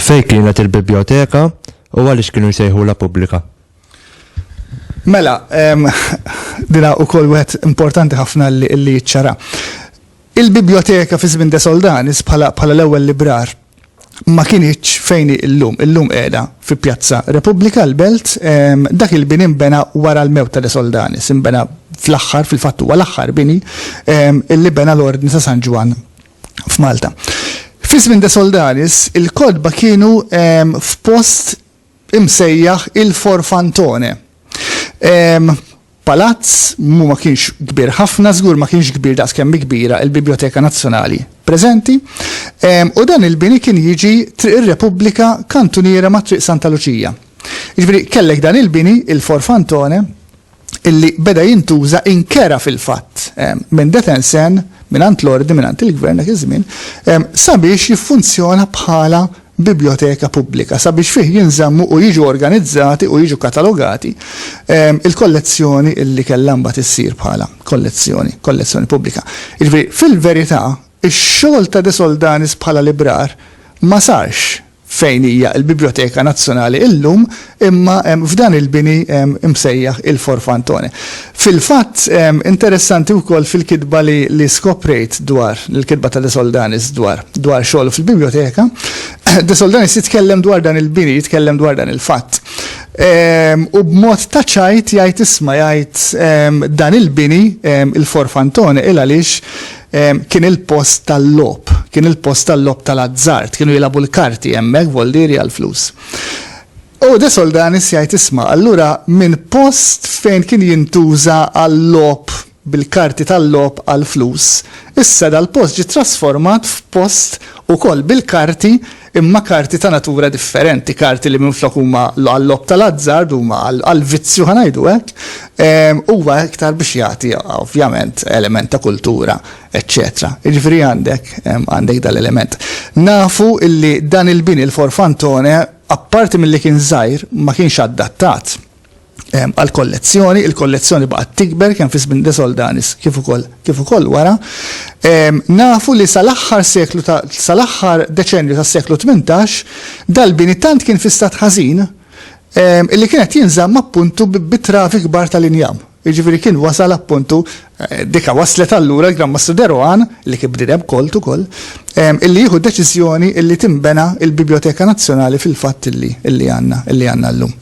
Fej kienet il-biblioteka u għaliex kienu jsejħu la pubblika? Mela, dina u kol wet importanti ħafna li ċara. Il-biblioteka fi żmien de Soldanis bħala l-ewwel librar ma kinitx fejn hi llum. Illum qiegħda fi Pjazza Repubblika, l-Belt. Dak il-bini nbena wara l-mewt ta' De Soldanis. Inbena fl-aħħar, fil-fatt huwa l-aħħar bini li bena l-Ordni ta' San Ġwann f'Malta. Fi żmien De Soldanis, il-kotba kienu f'post imsejjaħ il-Forfantone. Palazz mu ma kienx kbir ħafna, żgur ma kienx kbir daqs kemm kbira il-Biblioteka Nazzjonali preżenti, u dan il-bini kien jiġi Triq ir-Repubblika kantuniera ma' Triq Santa Luċija. Jiġifieri kellek dan il-bini, il-Forfantone, illi beda jintuża inkera fil-fatt minn Detensen, mingħand l-Ordni, mingħand il-Gvern dak iż-żmien, sabiex jiffunzjona bħala biblioteka pubblika, sabiex fih jinżammu u jiġu organizzati u jiġu katalogati l-kollezzjoni illi kellha mbagħad issir bħala kollezzjoni, kollezzjoni pubblika. Jiġifieri, fil-verità, ix-xogħol ta' De Soldanis bħala librar ma sarx fejn hija l-Bibljoteka Nazzjonali illum, imma f'dan il-bini msejjaħ il-Forfantone. Fil-fatt, interessanti wkoll fil-kitba li skoprejt dwar, il-kitba ta' De Soldanis dwar dwar xogħlu fil-Bibljoteka, De Soldanis jitkellem dwar dan il-bini, jitkellem dwar dan il-fatt. U b'mod ta' ċajt jgħid isma' jgħid dan il-bini, il-Forfantone, il għaliex Kien il-post tal-logħob. Kien il-post tal-logħob tal-azzard. Kienu jilagħbu l-karti hemmhekk, vollieri għall-flus. U De Soldanis jgħid isma', allura minn post fejn kien jintuża għal-logħob bil-karti tal-logħob għall-flus, issa dal-post ġie trasformat f'post ukoll bil-karti imma karti ta' natura differenti, karti li minflok huma għal-logħob tal-azzard huma għall-vizzju ħa ngħidu hekk, huwa iktar biex jagħti ovvjament element ta' kultura eċċetera. Jiġifieri għandek għandek dan l-element. Nafu illi dan il-bini l-Forfantone apparti milli kien żgħir ma kienx adattat għall-kollezzjoni. Il-kollezzjoni baqgħet tikber kemm fi żmien De Soldanis kif ukoll kif ukoll wara. Nafu li sal-aħħar seklu ta' sal-aħħar deċennju tas-seklu tmintax dal-bini tant kien fi stat ħażin illi kien qed jinżamm appuntu bi travi kbar tal-injam. Jiġifieri kien wasal appuntu, dika waslet allura l-Gran Mastru de Rohan, li kien bniedem kolt ukoll, illi jieħu d-deċiżjoni illi tinbena l-Bibljoteka Nazzjonali fil-fatt illi illi għandna illi għandna llum.